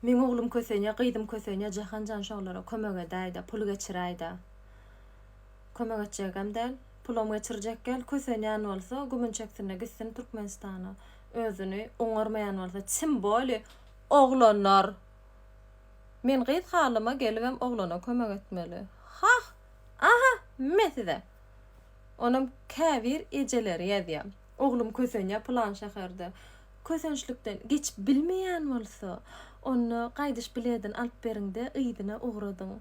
Meň oglum kösenýä gyzym kösenýä Jahanjan şolara kömek edäýdä pul geçiräýdä Kömek etjegem däl pulam geçirjek gel kösenýän bolsa gümün çeksinda gitsin Türkmenistana özüni oňarmaýan bolsa tim boli oglanlar Men gyz halyma gelibem oglana kömek etmeli hah aha me size onam käbir ejeleri ýazýa. Oglum kösenýär pylan şäherde. Kösençlikden geçip bilmeýän bolsa, onda gaýdyş biledini alyp beriň-de, yzyna ugradyň.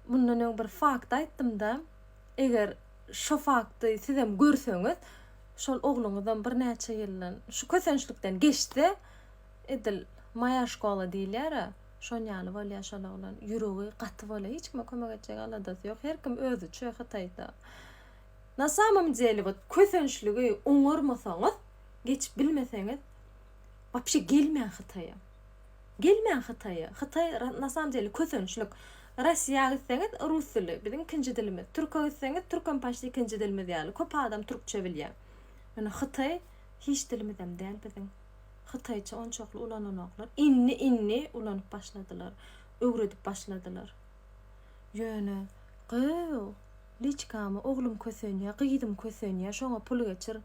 Mundan öň bir fakt aýtdym-da, eger şo fakty sizem görseňiz, şol ogluňyzam birnäçe ýyldan şu kösençlikden geçse, edil Moýa şkola diýilýär-ä, şonýaly bolýar şol oglan. Ýüregi gaty bolýar, hiç kime kömek etjek aladasy ýok, her kim özüçe, hytaýda. Na samom dele wot kösençligi oňarmasaňyz geçip bilmeseňiz wapşe gelmäň hytaýa gelmäň hytaýa hytaý na samom dele kösençlik rossiýa gitseňiz rus dili biziň ikinji dilimiz türke gitseňiz türkem paşt ikinji dilimiz ýaly köp adam türkçe bilýä ýöne hytaý hiç dilimizem däl biziň hytaýça onçakly ulananoklar indi indi ulanyp başladylar öwredip başladylar ýöne gyýw Liçkamy oglum kösenýä gyzym kösenýä şoňa pul geçir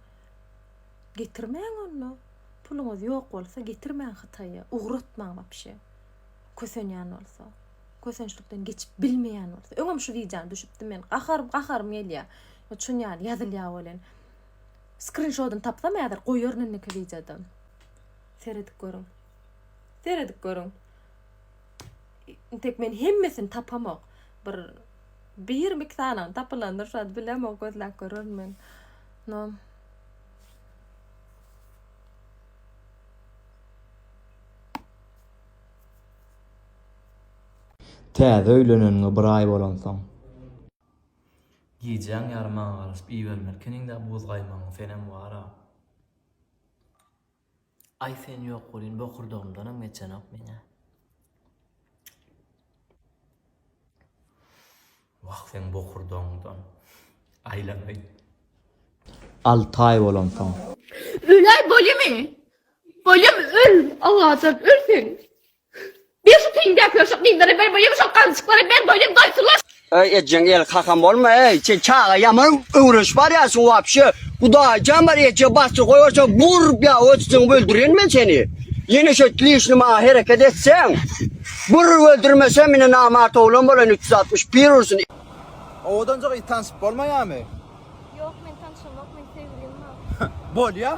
getirmäň onda puluňyz ýok bolsa getirmäň hytaýa ugratmaň wapşe kösenýän bolsa kösençlikden geçip bilmeýän bolsa öňem şu wideony düşüpdim men gaharym gaharym gelýä ýa çün ýaly ýazylýa welin skrinşodyny tapsam häzir goýaryn indiki wideoda seredip görüň seredip görüň. Intek men hemmesini tapamok. Bir bir mik sanaň tapylandyr şad bilemok gözläp görürün men. No. Täze öýleneniňe bir aý bolansoň. Gijäň ýary maňa garaşyp iýibermelkeniň-dä buz gaýmagyň, senem wara. Aý sen ýok welin bokurdagymdanam geçenok meň-ä. Wah seň bokurdagyňdan aýlanaý. Alty aý bolansoň. Öläý bolýamy? Bolýamy öl, Allajan öl sen. Ber şu teýin däpleri şu gyzlara ber boýuň şol galyjyklary ber doýdum doýsunlar. Öý ejeň el kakam bolma öý sen çaga ýaman öwrenşip barýarsyň wapşe hudaýjan bar eje bassyr goýberse burp ýa ötüsiňi öldüren men seni ýene şo lişni maňa hereket etseň bur öldürmesem mine namart oglan bolan üç ýüz altmyş bir ursun. Owadanjyk it tansyp bolmaýamy? Ýok men tanşamok men sevgilim bar. Bolýa.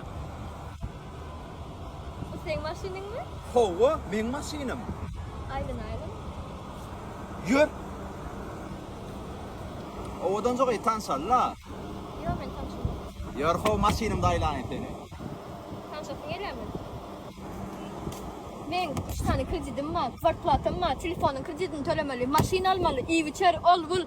Bu seň maşynyňmy? Howwa meň maşynym. Aýlyn aýlyn. Ýör. Owadan jogaý tanşalyla. Ýok men tanşamok. Ýör how maşynymda aýlaýyn seni. Tanşasyň gelýärmi? Men üç sany kreditim bar, kwarplatam bar, telefonyň kreditini tölemeli, maşyn almaly, iýip içer, ol bul.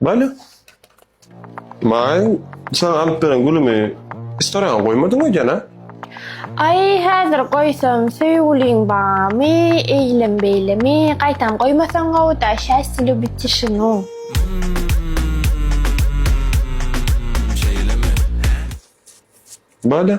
Bale. Maň saňa alyp beren gülümi istoraňa goýmadyň öýdýän-a? Aý, häzir goýsam, söýgüliň barmy, eýlem-beýlemi, gaýtam goýmasaň gowy-da, şästil lubiti şunu. Bale.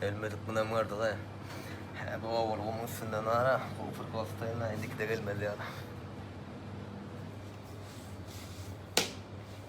Gelmedik günäm gardyga. Hä bu owal gumuň üstünden ara. Hopur gostaýyna indiki de gelmez ýaly.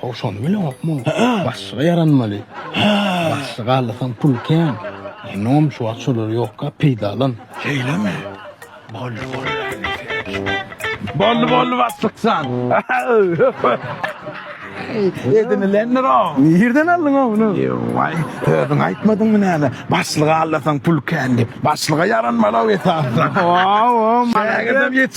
Ho şony bileňokmy? Hä, başlyga ýaranmaly. Hä, başlyga allasam pul kän. Inom şu wagt şolar ýokka peýdalan. Şeýlemi? Boldy, boldy. Boldy, boldy başlykjan. Edinilendir-o. Nirden aldyň-a muny? Waý, özüň aýtmadyňmy näme? Başlyga allasam pul kän diýip. Başlyga ýaranmaly-ow esasan. Waw, waw, maladys.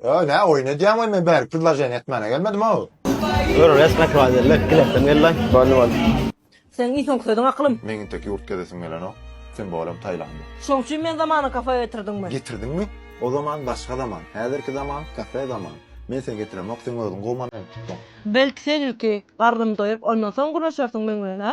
Ýa nä oýun edýäň we men bärik predloženiýa etmäne gelmedim-ow. Ýör resmek bar geldi. Gilesim geldi. Boldy boldy. Seň iň soňky sözüň akylym. Meň intek ýurt gezesim gelenok. Sen bolam Taýlanda. Şoň üçin men zamany kafe getirdiňmi? Getirdiňmi? O zaman başga zaman. Häzirki zaman kafe zaman. Men seni getiremok, seň özüň gowy manent tutdyň. Belki seň ilki garnyň doýup, ondan soň gürleşersiň meň bilen, hä?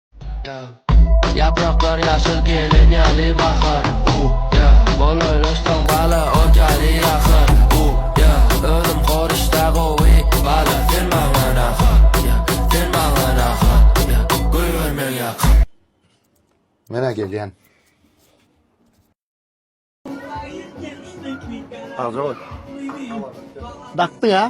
Ýapraklar ýaşyl gelen ýaly bahar Bolaýlaşsaň bala ot ýaly ýakar Özüm horuşda gowy bala sen maňa nahar Sen maňa nahar Göýberme ýakar Menä gelýän. Agzybol. Dakdyň a.